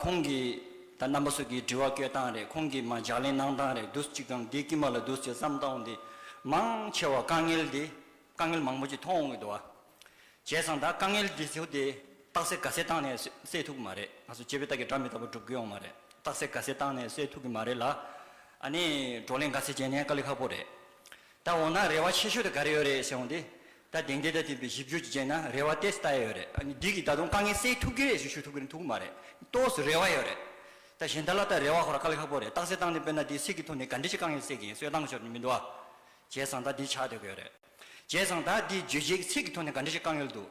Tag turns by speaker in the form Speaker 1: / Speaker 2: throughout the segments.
Speaker 1: ཁོང་གིས། ད་རྣམ་པ་སོགས་ཀྱིས་དྲི་བ་བསྐྱོད་སྟངས་རེད་ཁོང་གིས་མ་ལྗགས་ལེན་གནང་སྟངས་རེད་དུས་གཅིག་ཀྱང་བདེ་སྐྱིད་མ་ལ་དུས་ཚོད་ཙམ་བཏང་འདི། མང་ཆེ་བ་དཀའ་ངལ་འདི། དཀའ་ངལ་མང་པོ་ཅིག་མཐོང་འོང་གི་འདུག་བ། བྱས་ཙང་ད་དཀའ་ངལ་འདི་ཚོ་དེ། རྟགས་གསལ་དགའ་གསལ་བཏང་ནས་སེལ་ཐུབ་ཀྱི་མ་རེད་ང་ཚོ་སྤྱི་བའི་རྟགས་ཀྱི་སྒྲ་མི་དག་པ་སྒྲུབ་དགོས་ཡོང་མ་རེད་རྟགས་གསལ་དགའ་གསལ་བཏང་ནས་སེལ་ཐུབ་ཀྱི་མ་རེད་ལ། ཨ་ནི་བགྲོ་གླེང་དགའ་ཚལ་བྱས་ནས་དཀའ་ལས་ཁག་པོ་རེད། ད་འོང་ན་རེ་བ་ཆེ་ཤོས་དེ་ག་རེ་ཡོད་རེད་ཟེར་འོང་དེ། ད་དེང་དེ་ལྟར་བསྟན་པའི་གཞི་བཅོལ་གྱི་རྗེས་ན་རེ་བ་དེ་ལྟ་ཡ་ཡོད་རེད། ཨ་ནི་འདི་གིས་ད་དུང་དཀའ་ངལ་སེལ་ཐུབ་ཀྱི་རེད་ཞེས་ཞུ་ཐུབ་ཀྱི་རེད་འཐུག་གི་མ་རེད། སྟོགས་སུ་རེ་བ་ཡོད་རེད། ད་གཞན་དག་ལ་ད་རེ་བ་ཤོར་བ་དཀའ་ལས་ཁག་པོ་རེད་རྟགས་གསལ་བཏང་ནས་དཔེར་ན་དེའི་ཚིག་གི་ཐོག་ནས་ག་འདྲི་ཞིག་དཀའ་ངལ་སེལ་གྱི་ཡིན་སོད་བཏང་ཤོར་ནི་མི་འདུག་ཨ། བྱས་ཙང་ད་འདི་ཆགས་སྡོད་ཀྱི་ཡོད་རེད། བྱས་ཙང་ད་འདི་བརྗོད་བྱེད་ཀྱི་ཚིག་གི་ཐོག་ནས་ག་འདྲི་ཞིག་དཀའ་ངལ་འདུག་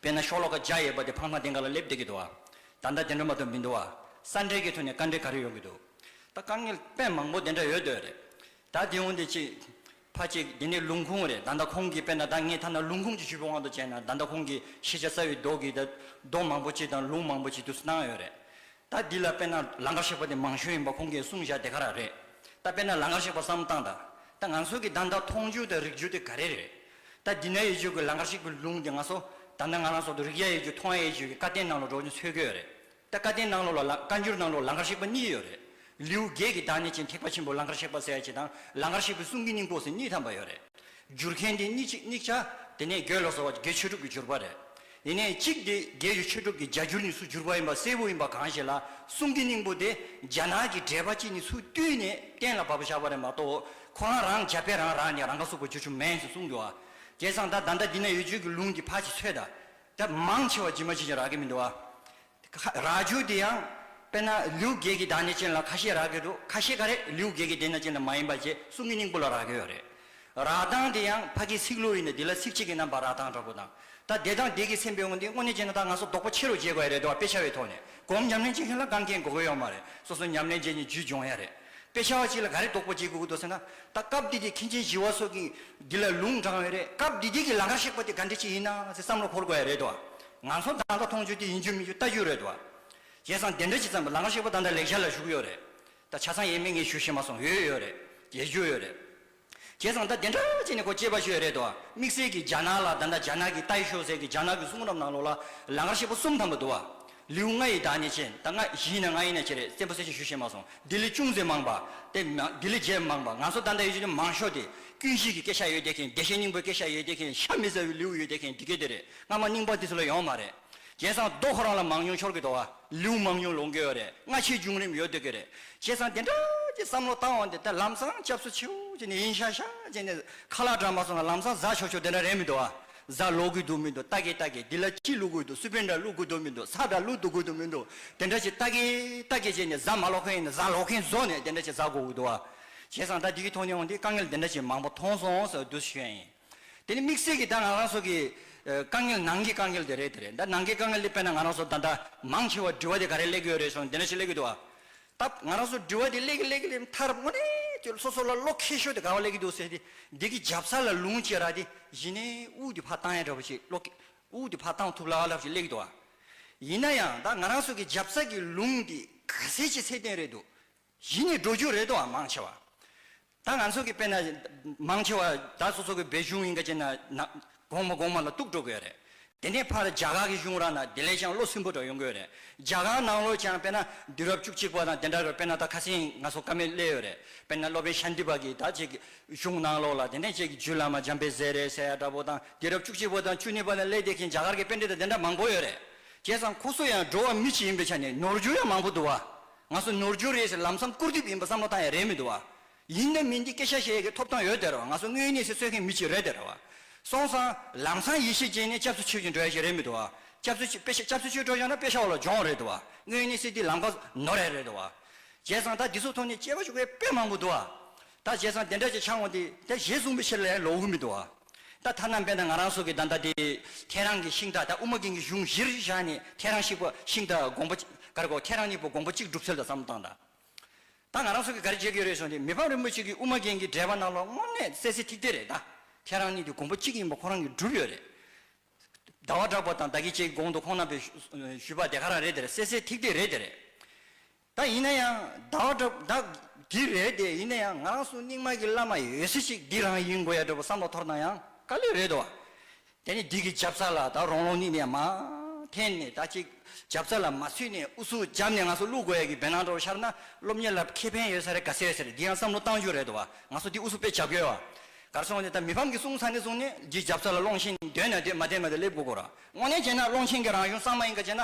Speaker 1: དཔེར་ན་ཤོག་ལོ་ཀ་བརྒྱ་ཡོད་པ་དེ་འཕངས་མ་དེང་ག་ལ་སླེབས་བསྡད་ཀྱི་འདུག་ཨ། ད་ད་དེ་འདྲ་མ་གཏོགས་མི་འདུག་ཨ། ས་འབྲེལ་གྱི་ཐོག་ནས་དཀའ་འབྲེལ་ག་རེ་ཡོང་གི་འདུག་ད་དཀའ་ངལ་དཔེ་མང་པོ་དེ་འདྲ་ཡོད་སྡོད་རེད། ད་དེ་འོན་ཏེ་གཅིག། ཕ་གཅིག་དེ་ནི་ལུང་ཁུངས་རེད་ད་ལྟ་ཁོང་གིས་དཔེར་ན་ད་ངས་ཐ་ན་ལུང་ཁུངས་ཀྱི་ཤུལ་བུ་དབང་དུ་བྱས་ན་ད་ལྟ་ཁོང་གིས་ཤེས་བྱ་རྩ་བའི་མདོག་གིས་ད་མདོག་མང་པོ་ཅིག་དང་ལུང་མང་པོ་ཅིག་བསྡུ་གནང་ཡོད་རེད། ད་འདི་ལ་དཔེར་ན་ལང་ཀར་གཤེགས་པ་དེ་མང་ཤོས་ཡིན་པ་ཁོང་གིས་གསུངས་བཞག་དེ་ག་རང་རེད། ད་དཔེར་ན་ལང་ཀར་གཤེགས་པ་བསམ་སྟངས་དང་ད་ང་ཚོ་གི་ད་ལྟ་མཐོང་རྒྱུ་དང་རིག་རྒྱུ་དེ་ག་རེ་རེད། ད་འདི་ན་ཡོད་རྒྱུ་གི་ལང་ཀར་གཤེགས་པའི་ལུང་དེ་ང་ཚོ་ད་ལྟ་ང་རང་སོགས་དུ་རིག་ཡ་ཡོད་རྒྱུ་མཐོང་ཡ་ཡོད་རྒྱུ་གི་བཀའ་བསྟན་ནང་ལ་འགྲོ་རྒྱུ་འཚོལ་གི་ཡོད་རེད། ད་བཀའ་བསྟན་གནང་ལོག་ལ་བཀའ་འགྱུར་གནང་ལོག་ལང་ཀར་གཤེགས་པ་གཉིས་ཡོད་རེད། ལེའུ་བརྒྱད་ཀྱི་བདག་ཉིད་ཅན་ཐེག་པ་ཆེན་པོ་ལང་ཀར་གཤེགས་པ་གསལ་བྱེད་དང་ལང་ཀར་གཤེགས་པའི་གསུང་གི་སྙིང་པོ་ཟེར་གཉིས་ཐམ་པ་ཡོད་རེད། བསྒྱུར་མཁན་དེ་གཉིས་གཅིག་དམིགས་བྱ། དེ་ནས་བརྒྱད་ལ་སོགས་པ་བརྒྱད་ཆོས་གྲུབ་ཀྱི་བསྒྱུར་པ་རེད། ཡེ་ནས་གཅིག་དེ་བརྒྱད་ཀྱི་ཆོས་གྲུབ་ཀྱི་རྒྱ་འགྱུར་ནི་སུ་བསྒྱུར་པ་ཡིན་པ་གསལ་བོ་ཡིན་པ་གང་ཞིག་ལ་གསུང་གི་སྙིང་པོ་དེ་རྒྱ་ནག་གི་འགྲེལ་པ་གཅིག་ནི་སུ་བཏུས་ནས་གཏན་ལ་ཕབ་པ་ཆགས་པ་རེད་མ་གཏོགས་ཁོ་རང་རང་རྒྱ་དཔེ་རང་རང་ནས་རང་ཁ་གསོ་དགོས་ཅོ་ཆུ་མེན་ཟེར་གསུང་འདུག་ཨ། དེ་སང་ད་ད་ད་འདི་ན་ཡོད་ཆོས་ཀྱི་ལུང་འདི་ཕ་ཆེ་ཚོས་ད་དེ་མང་ཆེ་བ་ཇི་མ་ཇི་བཞིན་རག་གི་མི་འདུག་ཨ། རག་རྒྱུ་དེ་ཡང་དཔེར་ན་ལིའུ་རྒྱལ་གྱི་དག་ནས་ཅན་ལ་ཁ་ཤས་རག་གི་འདུག་ཁ་ཤས་ག་རེ་ལིའུ་རྒྱལ་གྱི་དེ་ན་ཅན་ལ་མ་ཡིན་པ་བཅས་གསུང་གི་སྙིང་པོ་ལ་རག་གི་ཡོད་རེད། རག་སྟངས་དེ་ཡང་ཕ་གིའི་ཚིག་ལུས་ཡིན་ནས་དེ་ལ་ཚིག་གཅིག་གི་རྣམ་པར་རག་སྟངས་འདྲ་པོ་དང། ད་བདེ་དང་བདེ་གི་སེམས་པའི་དབང་གིས་དངོས་གནས་ཅན་ན་ད་ང་ཚོ་རྡོག་པོ་ཆེ་རུ་བརྗེ་དགོས་ཡ་རེད་འདུག་ཨ་དཔེ་ཆ་བའི་ཐོག་ནས་གོམ་ཉམས་ལེན་བྱེད་མཁན་ལ་རྐང་འཁེལ་འགོག་གི་ཡོད་མ་རེད་སོ་སོ་ཉམས་ལེན་བྱས་ནས་རྒྱུད་སྦྱོང་ཡ་རེད། དཔེ་ཆ་བ་གཅིག་ལ་ག་རེ་དོགས་པ་བྱེད་དགོས་ཀྱི་འདུག་ཟེར་ན། ད་སྐབས་འདི་དེ་མཁན་ཆེན་བཞི་བ་སོགས་ཀྱིས་འདི་ལ་ལུང་དྲངས་ཡོད་རེད་སྐབས་འདི་དེ་གི་ལང་ཀར་གཤེགས་པ་དེ་ག་འདྲི་ཅི་ཡིན་ན་ཟེར་བསམ་བློ་འཁོར་དགོས་ཡ་རེད་དོ། ང་ཚོ་བདག་འདྲ་མཐོང་ཆོས་དེ་ཡིན་རྒྱུ་མིན་རྒྱུ་ལྟ་རྒྱུ་རེད་དོ། བྱས་ཙང་དེ་འདྲ་ཅི་ཙམ་ལང་ཀར་གཤེགས་པ་དང་འདྲ་ལེགས་ཤར་ལ་བཞུགས་ཡོད་རེད། ད་ཆ་ཚང་ཡས་མས་ངས་ཞུ་ཤེས་མ་སོང་ཡོད་ཡོད་རེད། རྒྱལ་རྒྱུ་ཡོད་རེད། བྱས་སོང་ད་དེ་འདྲ་བྱས་ནས་ཁོ་སྐྱེས་པ་ཤོས་རེད་དོ་དམིགས་བསལ་གྱིས་རྒྱ་ནག་ལ་ད་ལྟ་རྒྱ་ནག་གི་ཏའི་ཤོག་ཟེར་གྱི་རྒྱ་ནག་གི་གསུང་རབ་ནང་ལོག་ལ་ལ་ངར་ཤེད་པོ་གསུམ་ཐམ་པ་འདུག་བ། ལེའུ་ལྔ་ཡི་དག་ནི་ཆེ་ད་ལྔ་བཞི་ཡིན་ན་ལྔ་ཡིན་ན་ཆེ་རེད་བཙན་པོ་གསལ་བཤད་ཞུ་ཤེས་མ་སོང་ལྡི་ལི་ཅུང་ཟད་མང་བ་སྟེ་ལྡི་ལི་བརྒྱད་མང་བ་ང་ཚོ་ད་ལྟ་ཡོད་ཆོས་ནི་མང་ཤོས་དེ་ཀུན་གཞིས་ཀྱི་སྐད་ཤ་ཡོད་བསྡད་མཁན་བདེ་གཤེགས་སྙིང་པོའི་སྐད་ཤ་ཡོད་བསྡད་མཁན་ཤ་མི་ཟ་བའི་ལེའུ་ཡོད་བསྡད་མཁན་འདི་སྐད་དེ་རེད་སྔ་མ་རྙིང་པ་འདི་ཚོ་ལ་ཡོང་མ་རེད། བྱས་ཙང་རྡོ་ཁོ་རང་ལ་མང་ཉུང་འཆོར་གི་འདུག་ཨ། ལེའུ་མང་ཉུང་ལོངས་དགོས་བ་རེད་སྔ་ཕྱིའི་བྱུང་རིམ་ཡོད་སྡོད་ཀྱི་རེད། བྱས་ཙང་དེ་འདྲ་ཅིག་བསམ་བློ་བཏང་བ་འདི་ལྟར་ལམ་སང་སྐྱབས་སུ་མཆིའོ་ཅེས་ནས་ཡིན་ཤག་ཤག་ཅེས་ནས་ཁ་ལག་བྲང་མ་སོང་ན་ལམ་སང་གཟའ་ཆོག་ཆོག་དེ་འདྲ་རེད་མི་འདུག་ཨ། གཟའ་ལོག་དགོས་འདུག་མི་འདུག་རྟ་གས་རྟ་གས་འདི་ལ་ཅི་བླུག་དགོས་འདུག་སུ་པན་འདྲ་བླུག་དགོས་འདུག་མི་འདུག་ས་འདྲ་བླུག་ཏུ་དགོས་འདུག་མི་འདུག་དེ་འདྲ་ཅིག་རྟ་གས་རྟ་གས་ཅེས་ནས་གཟའ་མ་ལོག་མཁན་ཡིན་ན་གཟའ་ལོག་མཁན་བཟོ་ནས་དེ་འདྲ་ཅིག་གཟའ་གོ་དགོས་འདུག་ཨ། བྱས་ཙང་ད་འདི་གི་ཐོག་ནས་འོང་དུས་དཀའ་ངལ་འདི་འདྲ་ཅིག་མང་པོ་མཐོང་སོང་ཟེར་བ་དུས་སུ་ཤོད་ཡིན། དེ་ནི་དམིགས་བསལ་གྱིས་ད་ང་རང་ཚོ་གི་དཀའ་ངལ་ནང་གི་དཀའ་ངལ་དེ་རེད་དེ་རེད་ད་ནང་གི་དཀའ་ངལ་དེ་དཔེར་ན་ང་རང་ཚོ་ད་ལྟ་མང་ཆེ་བ་འབྲི་བ་དེ་ག་རེ་གླེགས་ཡོད་རེད་སོང་དེ་འདྲ་ཞིག་གླེགས་གི་འདུག་ཨ། ད་ང་རང་ཚོ་འབྲི་བ་དེ་གླེགས་གི་གླེགས་གི་གླེགས་མཐར་དངོས་གནས་ཀྱི་སོ་སོ་ལ་བློ་ཁེལ་ཤོས་དེ་ག་བ་གླེགས་གི་འདུག་ཟེར་ཏེ་འདི་གི་འཇབ་ས་ལ་ལུང་བཅད་ར་དེ་གཞི་ནས་དབུགས་དེ་ཕར་བཏང་ཡ་འདྲ་བོ་ཞིག་བློ་ཁེལ་དབུགས་དེ་ཕར་བཏང་ཐུབ་ལ་ལབ་ཞིག་གླེགས་གི་འདུག་ཨ། ཡིན་ན་ཡང་ད་ང་རང་ཚོ་གི་འཇབ་ས་ཀྱི་ལུང་དེ་ག་ཟེ་ཆེ་ཚད་ལྡན་རེད་འདུག་གཞི་ནས་འགྲོ་རྒྱུ་རེད་དོ་ཨ་མང་ཆེ་བ། ད་ང་ཚོ་གི་དཔེ་ན་མང་ཆེ་བ་ད་སོ་སོ་གི་བའི་གཞུང་ཡིན་ག་ཅེ་ན་ན་གོང་མ་གོང་མ་ལ་གཏུགས་འགྲོ་གོས་རེད། དེ་ནས་ཕར་རྒྱ་གར་གི་གཞུང་ར་ན་དེ་ལས་ཀྱང་བློ་སིམ་པོ་འདྲ་ཡོང་གོས་རེད། རྒྱ་གར་ནང་ལོ་ཀྱང་དཔེ་ན་དུས་རབས་བཅུ་གཅིག་པ་དང་དེ་འདྲ་རུ་དཔེ་ན་ད་ཁ་སེང་ང་ཚོ་ཀ་མེད་སླེ་ཡོད་རེད་དཔེ་ན་སློབ་དཔོན་ཤཱན་ཏི་པ་གིས་ད་ཅིག་གཞུང་ནང་ལོ་ལ་དེ་ནས་ཅིག་རྒྱུད་བླ་མ་འཇམ་དཔལ་ཟས་རེད་ཟས་ཡ་འདྲ་པོ་དང་དུས་རབས་བཅུ་གཅིག་པ་དང་བཅུ་གཉིས་པ་ལ་སླེ་དེ་གིན་རྒྱ་གར་གི་དཔེ་འདྲི་ད་དེ་འདྲ་མང་པོ་ཡོད་རེད། བྱས་ཙང་ཁོ་ཚོ་ཡང་འགྲོ་བ་མི་གཅིག་ཡིན་པའི་ཆ་ནས་ནོར་རྒྱུ་ཡང་མང་པོ་འདུག་བ། ང་ཚོ་ནོར་འཁྲུལ་རེད་ཟེར་ལམ་སང་སྐུར་དུས་ཡིན་པ་བསམ་བློ་བཏང་ཡ་རེད་མི་འདུག་བ། ཡིན་ནམ་མིན་འདི་སྐད་ཤ་ཤེས་ཡས་ཀྱི་ཐོབ་ཐང་ཡོད་དེ་རོ་ང་ཚོ་དངོས་གནས་སེ་གསོད་མཁན་མི་གཅིག་རེད་དེ་རེད་བ། སོང་སང་ལམ་སང་ཡེ་ཤེས་ཅན་ནས་སྐྱབས་སུ་མཆི་བཞིན་འགྲོ་ཡ་ཞིག་རེད་མི་འདུག་བ། སྐྱབས་སུ་མཆི་སྐྱབས་སུ་མཆི་འགྲོ་ཞོག་ན་དཔེ་ཤོག་ལ་སྦྱོང་རེད་འདུག་བ། དངོས་གནས་སེ་འདི་ལམ་ཁ་ནོར་ཡ་རེད་འདུག་བ། བྱས་ཙང་ད་འདི་ཚོ་ཐོག་ནས་སྐྱེ་བ་ཤོར་བའི་དཔེ་མང་པོ་འདུག་བ། ད་བཞེས་སང་དེ་འདྲ་ཅིག་འཆང་ངོ་དེ་དེ་བཞེས་གསུངས་པའི་ཕྱིར་ལས་ལོག་འུར་མི་འདུག་ཨ། ད་ཐ་ན་དཔེར་ན་ང་རང་སོགས་ཀྱིས་ད་ལྟ་དེ་ཁྱེད་རང་གི་ཤིང་རྟ་ད་དབུ་མ་རྒན་གྱི་གཞུང་བཞིར་བཞག་ནས་ཁྱེད་རང་ཤིག་པ་ཤིང་རྟ་དགོངས་པ་གར་གོ་ཁྱེད་རང་གཉིས་པོ་དགོངས་པ་གཅིག་སྒྲུབ་ཚུལ་ལ་བསམ་བློ་བཏང་དང། ད་ང་རང་སོགས་ཀྱིས་ག་རེ་བྱེད་ཀྱི་རེད་གསུངས་དེ་མི་ཕམ་རིན་པོ་ཆེ་གིས་དབུ་མ་རྒན་གྱི་འགྲེལ་པ་རྣམས་ལ་དངོས་གནས་གསལ་གསལ་ཐིག་ཐིག་རེད་ད་ཁྱེད་རང་གཉིས་དེ་དགོངས་པ་གཅིག་ཡིན་པ་ཁོ་རང་གིས་སྒྲུབ་ཡོད་རེད། ཟླ་བ་གྲགས་པ་དང་ད་ཀྱི་བཅས་ཀྱི་དགོངས་དོ་ཁོང་རྣམ་པས་ཞུས་པ་དེ་ག་རང་རེད་དེ་རེད་གསལ་གསལ་ཐིག་ཐིག་རེད་དེ་རེད། ད་ཡིན་ན་ཡང་ཟླ་བ་འདྲ་བོ་ད་འདི་རེད་དེ་ཡིན་ན་ཡང་ང་རང་སུ་རྙིང་མ་གི་བླ་མ་ཡོད་སྲིད་ཅིག་འདི་རང་ཡིན་དགོས་ཡ་འདྲ་བོ་བསམ་བློ་ཐོར་ན་ཡང་དཀའ་ལས་རེད་དོ། དེ་ནས་འདི་གི་རྒྱབ་རྩ་ལ་ད་རོང་རོང་ནི་ནས་མ་འཐེན་ནས་ད་ཅིག་རྒྱབ་རྩ་ལ་མ་ཚུད་ནས་ཨུ་ཚུགས་རྒྱབ་ནས་ང་སུ་བླུག་དགོས་ཡ་གི་བེ་ནང་འདྲ་བོ་ཤར་ན་སློབ་གཉེར་ལ་ཁེ་ཕན་ཡོད་ས་རེད་ག་ཚད་ཟེར་འདི་ཡང་བསམ་བློ་གཏང་རྒྱུ་རེད་དོ་ང་སུ་འདི་ཨུ་ཚུགས་དཔེ་བྱ་དགོས་ཡ་གར་སོང་ནས་ད་མི་ཕམ་གི་གསུང་ཚ་ནས་བཟུང་ནས་འདི་རྒྱབ་རྩ་ལ་སློང་ཆེན་འདོད་ན་འདོད་མ་འདོད་མ་འདོད་སླེབས་དགོས་དགོས་ར་དངོས་གནས་བྱས་ན་སློང་ཆེན་གི་རང་གཞུང་གཙང་མ་ཡིན་ག་བྱས་ན།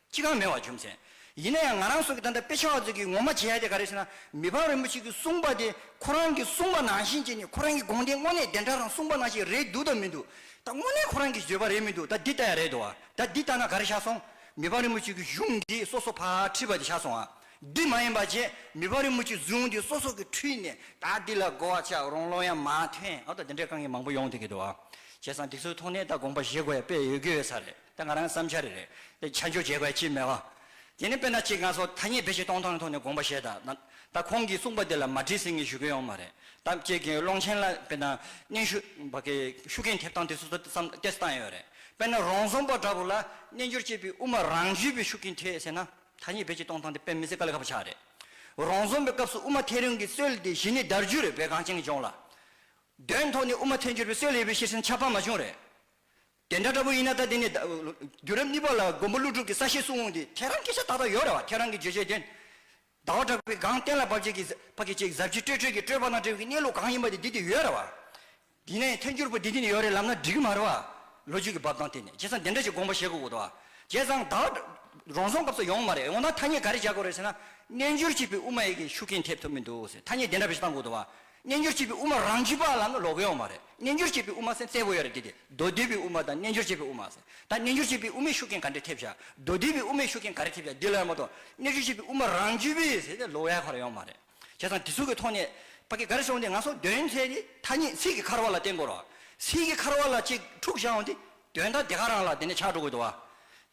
Speaker 1: ཅི་གང་མེད་བར་བྱུང་ཟེར། ཡིན་ན་ཡང་ང་རང་སོགས་ཀྱིས་ད་ལྟ་དཔེ་ཆ་བ་ཚོས་ཀྱིས་ངོ་མ་བྱེད་ཡ་དེ་ག་རེད་ཟེར་ན། མི་ཕམ་རིན་པོ་ཆེ་གིས་གསུངས་པ་དེ་ཁོ་རང་གིས་གསུངས་པ་ནང་བཞིན་བྱས་ནས་ཁོ་རང་གི་དགོངས་དེ་དངོས་གནས་བདེན་གྲགས་དང་གསུངས་པ་ནང་བཞིན་རེད་འདུག་དང་མི་འདུག་ད་དངོས་གནས་ཁོ་རང་གིས་བརྗོད་པ་རེད་མི་འདུག་ད་འདི་ལྟ་ཡ་རེད་འདུག་བ་ད་འདི་ལྟ་ན་ག་རེ་ཆགས་སོང། མི་ཕམ་རིན་པོ་ཆེ་གིས་གཞུང་འདི་སོ་སོ་ཕར་ཁྲིད་པ་དེ་ཆགས་སོང་བ། འདི་མ་ཡིན་པ་བྱས་མི་ཕམ་རིན་པོ་ཆེས་གཟུངས་འདི་སོ་སོ་གིས་ཁྲིད་ནས་ད་འདི་ལ་གོ་བ་ཆགས་རོང་ལོ་ཡང་མ་ཐོན་ཨ་ད་འདི་འདྲའི་དཀའ་ངལ་མང་པོ་ཡོང་ཐུག་གི་འདུག་བ། བྱས་ཙང་འདི་ཚོའི་ཐོག་ནས་ད་དགོངས་པ་བཞེས་དགོས་ཡ་དཔེ་ཡོད་དགོས་ཡོད་ས་རེད། དེ་ང་རང་གི་བསམ་འཆར་རེད། དེ་ཆ་འཇོག་བྱེད་དགོས་ཀྱི་མེད། དེ་ནི་དཔེར་ན་གཅིག་ང་ཚོ་ཐ་སྙད་བེད་སྤྱད་གཏོང་སྟངས་ཀྱི་ཐོག་ནས་དགོངས་པ་བཞེས་དང། ད་ཁོང་གིས་གསུངས་པ་དེ་ལ་མ་དྲིས་ཟིན་གྱི་ཞུ་མཁན་ཡོང་མ་རེད། ད་ཁྱེད་ཀྱིས་ཀློང་ཆེན་ལ་དཔེར་ན་སྙན་ཞུ། བ་ཀའི་ཤུགས་རྐྱེན་ཐེབས་སྟངས་དེ་སོ་སོ་བསམ་གཏད་སྟངས་ཡོད་རེད། དཔེར་ན་རོང་ཟོམ་པ་འདྲ་བོ་ལ་སྨྱན་སྦྱོར་བྱེད་པའི་དབུ་མ་རང་བརྒྱུད་པའི་ཤུགས་རྐྱེན་ཐེབས་ཟེར་ན། ཐ་སྙད་བེད་སྤྱད་གཏོང་སྟངས་དེ་དཔེ་མི་སྲིད་ཀ་ལ་ཁ་བ་ཆགས་རེད། རོང་ཟོམ་པའི་སྐབས་སུ་དབུ་མ་ཐལ་རིང་གི་སྲོལ་དེ་གཞི་ནས་དར་རྒྱུ་རེད་བོད་གངས་ཅན་གྱི་ལྗོངས་ལ། དོན་ཐོག་ནས་དབུ་མ་ཐལ་འགྱུར་བའི་སྲོལ་ཡོད་པའི་ཤེས་ཟིན་ཆ་ཕ་མ་ཅུང་རེད། དེ་འདྲ་འདྲ་པོ་ཡིན་ན་ད་དེ་ནས་རྒྱུད་རབས་གཉིས་པ་ལ་མགོན་པོ་ཀླུ་སྒྲུབ་ཀྱི་ས་བཤད་སྲུང་འོང་དུས་ཁྱེད་རང་གི་ཤ་ཏག་ཏག་ཡོད་རེད་བ་ཁྱེད་རང་གི་བརྗོད་བྱའི་དོན། ཟླ་བ་གྲགས་པའི་སྒང་གཏན་ལ་བབས་རྗེས་ཕ་གི་ཅིག་ཟབ་ཅིག་སྤྲོས་སྤྲོས་ཀྱི་སྤྲོས་པ་དང་བྲལ་བའི་གནས་ལུགས་གང་ཡིན་པ་དེ་འདི་དེ་ཡོད་རེད་བ། དེས་ན་ཡང་ཐལ་འགྱུར་པོ་འདི་འདི་ནས་ཡོད་རེད་ལབ་ན་འགྲིག་གི་མ་རེད་བ། ལོ་རྒྱུས་ཀྱི་བབས་སྟངས་བལྟས་ནས་བྱས་ཙང་དེ་འདྲ་ཞིག་དགོངས་པ་བཞེས་དགོས་འོས་བ། བྱས་ཙང་ད་བར་རང་སོང་སྐབས་སུ་ཡོང་མ་རེད་འོ་ན་ཐ་སྙད་ག་རེ་བྱ་དགོས་རེད་ཟེར་ན། རྣལ་འབྱོར་བྱེད་པའི་དབུ་མ་ཡི་གེ་ཤུགས་རྐྱེན་ཐེབས་ཐུབ་མི་འདུག་ཟེར་ཐ་སྙད་དེ་འདྲ་བཞི་བཏང་དགོས་འདུག་བ། རྣལ་འབྱོར་བྱེད་པའི་དབུ་མ་རང་རྒྱུད་པ་ལའང་ལོག་གི་ཡོད་མ་རེད། རྣལ་འབྱོར་བྱེད་པའི་དབུ་མ་སེམས་གསལ་བོ་ཡོད་རེད་དེ། མདོ་སྡེ་པའི་དབུ་མ་དང་རྣལ་འབྱོར་བྱེད་པའི་དབུ་མ། ད་རྣལ་འབྱོར་བྱེད་པའི་དབུ་མའི་ཤུགས་རྐྱེན་ག་འདྲས་ཐེབས་བྱ། མདོ་སྡེ་པའི་དབུ་མའི་ཤུགས་རྐྱེན་ག་རེ་ཐེབས་བྱ་འདི་ལ་ཡང་མ་གཏོགས། རྣལ་འབྱོར་བྱེད་པའི་དབུ་མ་རང་རྒྱུད་པའི་ཟེར་ཏེ་ལོག་ཡ་ག་རེ་ཡོད་མ་རེད། བྱས་ཙང་དེ་ཚུལ་གྱི་ཐོག་ནས། པ་ཀི་ག་རེ་བྱུང་སྟེ་ང་སོགས་དོན་ལྷའི་ཏེ་ཐ་སྙད་ཚིག་གི་འཁར་བ་ལ་བརྟེན་དགོས་རོགས། ཚིག་གི་འཁར་བ་ལ་གཅིག་འཁྲུག་བྱ་འོང་དེ། དོན་དག་དེ་ག་རང་ལ་དེ་ནས་ཆགས་འགྲོ་དགོས་འདུག་བ།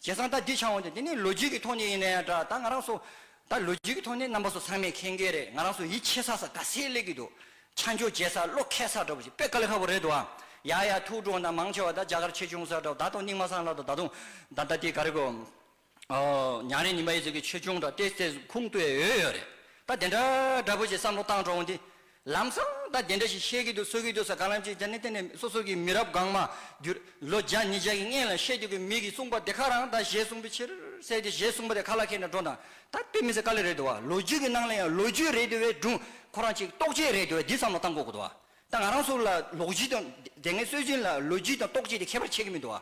Speaker 1: བྱས་ཙང་ད་འདི་ཆགས་འོང་དེ་འདི་ནི་ལོ་རྒྱུས་ཀྱི་ཐོག་ནས་ཡིན་ན་ཡང་འདྲ་ད་ང་རང་སོ། ད་ལོ་རྒྱུས་ཀྱི་ཐོག་ནས་རྣམ་པ་སོགས་ཚང་མས་མཁྱེན་གྱི་རེད་ང་རང་སོགས་ཡིད་ཆེས་ས་ས་དགའ་སེ་ལེགས་ཀྱི་འདུག་ཆ་འཇོག་བྱེད་ས་བློ་ཁེལ་ས་འདྲ་བོ་ཞིག་དཔེ་ཀ་ལེ་ཁ་བོ་རེད་འདུག་ཨ། ཡ་ཡ་ཐུགས་སྤྲོ་ན་མང་ཆེ་བ་ད་རྒྱ་གར་ཆེ་ཆུང་ས་འདྲ་བོ་ད་དང་སྙིང་མ་སངས་ལ་དང་ད་དུང་ད་ད་དེ་ག་རེ་གོ། ཉང་རེ་ཉིན་པ་ཡི་ཟེར་གྱི་ཆེ་ཆུང་འདྲ་སྟེ་སེ་ཟུག་ཁུང་སྟོད་ཡོད་ཡོད་རེད་ད་དེ་འདྲ་འདྲ་བོ་ཞིག་བསམ་བློ་བཏང་འགྲོ་འོང་དེ་ལམ་སང་དང་དེ་འདྲ་ཞིག་བཤད་ཀྱི་འདུག་གསོལ་གྱི་འདུག་ས་ག་ལ་ཅིག་ཅར་ནི་དེ་ནི་སོ་སོ་གྱི་མི་རབས་གང་མ་བསྒྱུར། ལོ་བརྒྱ་ཉིས་བརྒྱ་ཡི་སྔན་ལ་བཤད་རྒྱུ་གི་མིག་གིས་གསུངས་པ་དེ་ཁ་རང་དང་ཞེས་གསུངས་པའི་ཕྱིར་གསལ་ཏེ་ཞེས་གསུངས་པ་དེ་ཁ་ལ་ཁད་ནས་སྒྲོ་དང་ད་དཔེ་མི་ཟེར་དཀའ་ལས་རེད་འདུག་བ་ལོ་རྒྱུས་ཀྱི་ནང་ལ་ཡང་ལོ་རྒྱུས་རེད་འདུག་བས་སྒྲུང་ཁོ་རང་ཅིག་རྟོགས་བྱེད་རེད་འདུག་བས་འདི་བསམ་བློ་བཏང་དགོས་དགོས་འདུག་བ་ད་ང་རང་ཚོ་ལ་ལོག་རྒྱུས་དང་དེ་སྔའི་སྲོལ་རྒྱུན་ལ་ལོ་རྒྱུས་དང་རྟོགས་བྱེད་དེ་ཁྱད་པར་ཆེ་གི་མི་འདུག་བ་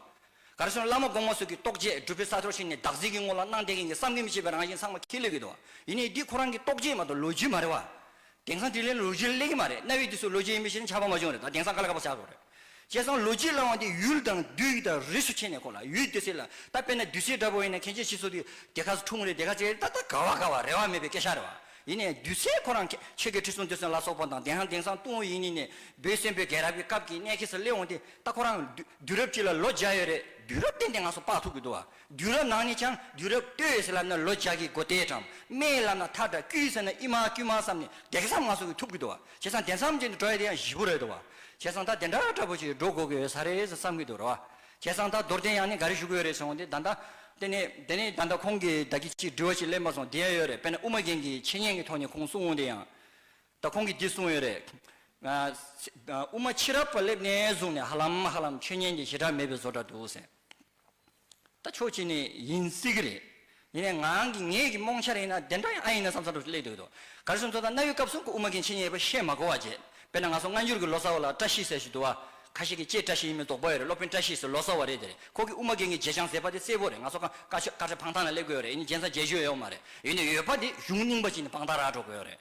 Speaker 1: ག་རེ་སོང་བླ་མ་དགོངས་མ་སོགས་ཀྱི་རྟོགས་བྱེད་སྒྲུབ་པའི་ས་ཐོར་ཞིག་ནས་བདག་གཟིགས་ཀྱི་ངོ་ལ་སྣང་བསྟན་མཁན་གྱི་བསམ་གྱིས་མི་ཁྱབ་པའི་རང་བཞིན་ཚང་མ་ཁས་ལེན་གྱི་འདུག་བ་ཡིན་ནའི་འདི་ཁོ་རང་གི་རྟོགས་བྱེད་མ་གཏོགས་ལོ་རྒྱུས་མ་རེད་བ། དེང་སང་དེ་ལས་ལོ་རྒྱུས་གླེང་གི་མ་རེད་གནའ་བོའི་དུས་སུ་ལོ་རྒྱུས་ཡིན་མིན་ཞེ་ན་ཆགས་པ་མ་བྱུང་རེད་ད་དེང་སང་ག་ལ་ག་པར་ཆགས་དགོས་རེད། བྱས་ཙང་ལོ་རྒྱུས་གླེང་བ་འདི་ཡུལ་དང་བདུད་ཡིག་དང་རིས་སུ་ཕྱེ་ནས་གོ་ལ་ཡུལ་བདུད་སེལ་ལ་ད་དཔེར་ན་བདུད་སེལ་འདྲ་པོ་ཡིན་ན་ཁྱེད་ཀྱི་ཕྱིས་སུ་དེ་ག་འཁྲུངས་རེད་དེ་ག་བྱས་རེད་ད་ད་ག་བ་ག་བ་རེ་བ་མེད་པའི་སྐད་ཆ་རེད་བ། ཡིན་ནས་བདུད་སེལ་ཁོ་རང་ཁྱེད་ཀྱི་ཁྲི་སྲོང་བདུད་སེལ་ལ་སོགས་པ་དང་དེང་སང་དེང་སང་ཏུང་ཡིན་ནི་ནས་བོད་བཙན་པོའི་རྒྱལ་རབས་ཀྱི་སྐབས་ཀྱི་གནས་ཁེལ་སར་གླེང་བ་འདི་ད་ཁོ་རང་བདུད་རབས་གཅིག་ལ་ལོ་བརྒྱ་ཡོད་རེད་བདུད་རབས་བསྟན་ཏེ་ང་སོ་དཔག་ཐུབ་ཀྱི་འདུག་བ། དུས་རབས་ནང་ནས་ཀྱང་དུས་རབས་ལྟོས་ཡོད་ཟེར་ལབ་ན་ལོ་བརྒྱ་ཀྱི་སྒོ་དེས་གྲང་སྨེ་ལབ་ན་ཐག་འདྲ་དཀྱུས་ཟེར་ན་ཨི་མ་དཀྱུས་མ་བསམ་ནས་བདེ་གསང་མ་སོང་གི་ཐུབ་ཀྱི་འདུག་བ་བྱས་ཙང་དེ་མཚམས་ཀྱི་འགྲོ་ཡ་དེ་ཡང་བཞི་པོ་རེད་འདུག་བ་བྱས་ཙང་ད་དེ་འདྲ་འདྲ་པོ་ཞིག་འགྲོ་དགོས་ཀྱི་ཡོད་ས་རེད་བསམ་གྱི་འདུག་ར་བ་བྱས་ཙང་ད་རྡོར་གདན་ཡང་ནས་འགའ་རེ་བཞུགས་ཀྱི་ཡོད་རེད་ཟེར་འོང་དེ་ད་ད་དེ་ནས་དེ་ནས་ད་ད་ཁོང་གིས་བདག་གིས་ཅིག་འདྲི་བ་ཞིག་གླེང་པ་སོང་དེ་ཡང་ཡོད་རེད་དཔེར་ན་དབུ་མ་རྒྱན་གྱི་འཆད་ཉན་གྱི་ཐོག་ནས་ཁོང་གསུང་འོང་དེ་ཡང་ད་ཁོང་གིས་འདི་གསུང་ཡོད་རེད། དབུ་མ་ཕྱི་རབས་པ་སླེབས་ནས་བཟུང་ནས་ཧ་ལམ་ཧ་ལམ་ཆོས་ཉན་གྱི་ཞེ་དྲག་མེད་པའི་བཟོ་འདྲ་འདུག་ཟེར། ད་ཆོས་བྱས་ནས་ཡིན་སྲིད་གི་རེད། ཡིན་ནའི་ངང་གིས་ངེད་ཀྱི་རྨོངས་འཆར་ཡིན་ན་དེ་འདྲ་ཡང་ཨ་ཡིན་ན་བསམ་བསམ་བྲོ་བྲོ་སླེབས་འདུག་ག་རེ་ཟུང་ཚོ་ད་གནའ་ཡུལ་སྐབས་སྲུང་སྐུ་དབུ་མ་མཁན་ཆེན་གཉིས་ཡོད་པ་ཤེས་མ་གོ་བ་བརྗེད་དཔེར་ན་ང་ཚོ་སྔ་འགྱུར་གྱི་ལོ་སར་བ་ལ་བཀྲ་ཤིས་ཟེར་ཞིག་འདུག་བ་ཁ་ཤས་ཀྱིས་ཀྱེ་བཀྲ་ཤིས་ཡིན་མིན་དོགས་པ་ཡོད་རེད་སློབ་དཔོན་བཀྲ་ཤིས་སུ་ལོ་སར་བ་རེད་དེ་རེད་ཁོ་གི་དབུ་མ་རྒན་གྱི་བརྗེད་བྱང་ཟེར་བ་དེ་གསལ་པོ་རེད་ང་ཚོ་ཁ་ཁ་ཆོས་ཁ་བྲལ་འཕང་ཐང་ལ་སླེབས་དགོས་ཡོད་རེད་ཡིན་ན་རྒྱན་ས་བརྒྱད་བརྗོད་ཡོད་མ་རེད་ཡོད་ནའི་ཡོད་པ་དེ་གཞུང་རྙིང་པ་ཅིག་ནས་འཕང་ཐང་རག་འགྲོ་དགོས་ཡོད་རེད།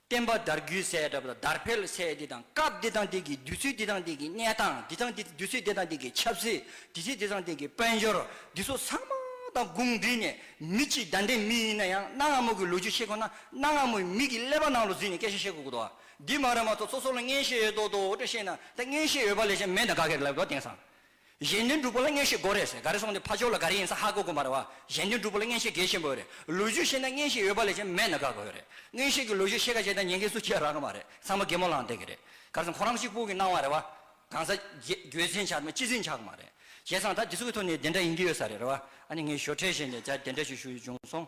Speaker 1: བསྟན་པ་དར་རྒུད་སའི་གྲབས་དང་དར་འཕེལ་སའི་དེ་དང་སྐབས་དེ་དང་དེ་གི་དུས་ཚོད་དེ་དང་དེ་གི་གནས་སྟངས་དེ་དང་དུས་ཚོད་དེ་དང་དེ་གི་ཆབ་སྲིད་དུས་ཚོད་དེ་དང་དེ་གི་དཔལ་འབྱོར་འདི་ཚོ་ཚང་མ་དང་དགུང་འདུས་ནས་མི་གཅིག་བདའ་འདྲེ་མི་ཡིན་ན་ཡང་གནའ་སྔ་མོ་གི་ལོ་རྒྱུས་ཤེས་དགོས་ན་གནའ་སྔ་མོའི་མི་གི་ཀླད་པ་ནང་ལོ་འཛིན་ནས་སྐད་ཆ་ཤེས་དགོས་དགོས་འདུག་འདི་མ་རེད་མ་གཏོགས་ཚོ་ཚོ་ལ་མངན་ཤེས་ཡོད་མདོག་མདོག་འོ་དྲོད་ཤེས་ན་ད་མངན་ཤེས་ཡོད་པ་ལས་ཅན་མེད་ད་ག་གེར་ལབ་དགོས་དེང་སང་གཞན་དོན་སྒྲུབ་པོ་ལ་བརྔན་བཤད་དགོས་རེད་ཟེར་ག་རེ་སོང་ནས་ཕ་ཅོག་ལ་ག་རེ་ཡིན་ས་ཧ་གོ་དགོས་མ་རེད་བ། གཞན་དོན་སྒྲུབ་པོ་ལ་བརྔན་བཤད་གལ་ཆེན་པོ་ཡོད་རེད་ལོ་རྒྱུས་ཤེས་ན་བརྔན་བཤད་ཡོད་པ་ལས་ཀྱང་མེད་ན་དགའ་དགོས་རེད་བརྔན་བཤད་ཀྱི་ལོ་རྒྱུས་ཤེས་ག་བྱས་ད་ཉན་མཁན་སུ་ཁྱེད་རང་གི་མ་རེད་ཚང་མ་རྒད་མོ་ལངས་བསྡད་ཀྱི་རེད་ག་རེ་སོང་ཁོ་རང་གཅིག་པུ་གི་སྣང་བ་རེད་བ། གང་ཟག་རྒྱུད་འཛིན་ཆགས་མེད་སྤྱི་འཛིན་ཆགས་གི་མ་རེད་བྱས་ཙང་ད་འདི་ཚོ་གི་ཐོག་ནས་དེ་འདྲ་ཡིན་གྱི་ཡོད་ས་རེད་བ་ཨ་ནི་ངས་ཞོར་འཕྲད་བྱས་ནས་ད་དེ་འདྲ་ཞིག་ཞུ་ཡི་བྱུང་སོང།